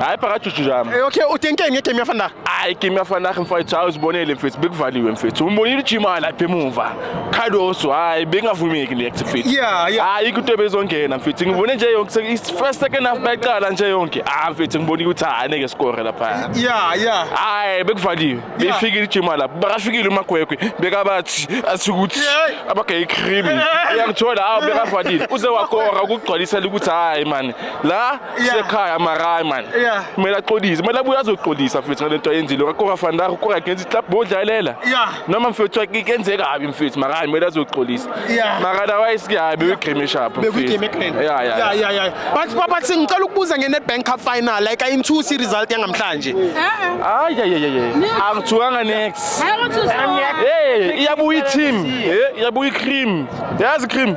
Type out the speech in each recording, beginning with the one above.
hayi phakathi ujuju yami Eh, okay utenkeni ngegame yafandayo hayi game yafanakhe mfowethu hayi uzibonele mfethu bekuvaliwe mfethu umbonile ujima lapha emuva cardoso hayi bekungavumeki le active fit Yeah, yeah. hayi ikho into bezongena mfethu ngibone nje yonke se- is- first second half bayiqala nje yonke ah mfethu ngibonile ukuthi hayi neke score lapha ya ya hayi bekuvaliwe beyifikile ijima lapho bakafikile umagwegwe bekabathi asikuthi Hey. abagayichrimi uyangithola hawu bekavalile uze wakora ukugcwalisela ukuthi hayi mani la sekhaya marayi mani kumele axolise kumele abuye azoxolisa mfethu ngale nto ayenzile kakora fandar ukora against club bodlalela noma mfethu kenzeka kabi mfethu marayi kumele azoxolisa mara otherwise kuyabi uyigrimisha apho but papa singicela ukubuza nge-nedbank cup final like ayinthusi i-result yangamhlanje hayi yeyeyeye angithukanga nex iyabuya i-team iyabuya i-cream yazi i-cream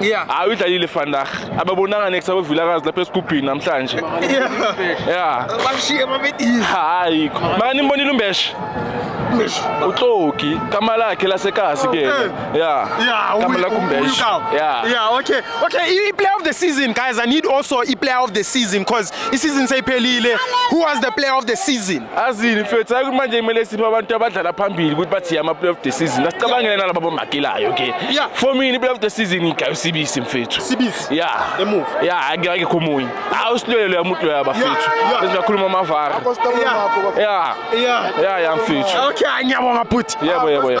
Yeah. Hayi uyidlalile Vandag. Ababonanga next abavilakazi lapha esigubhini namhlanje. Yeah. Bashiye babedini. Hayi. Maka nimbonile umbeshe. Umbeshe. Uxoki kama lakhe lasekazi ke. Eh. Yeah. Yeah. Kama lakhe umbeshe. Yeah. Yeah, okay. Okay, i player of the season guys. I need also i player of the season because i season seyiphelile. Who was the player of the season? azini mfethu hayi ukuthi manje kumele siphe abantu abadlala phambili ukuthi bathi yama player of the season asicabangele nalabo bomakelayo ke Yeah. for mina player of the season igayo sibisi mfethu Sibisi? ya Emuva? ya akekho omunye hayi usilwele loya muntu loya bafethu yeah. besingakhuluma amavara Kostabula Yeah. makho bafo. ya Yeah. ya ya mfethu Okay, ngiyabonga bhuti. yebo yebo yebo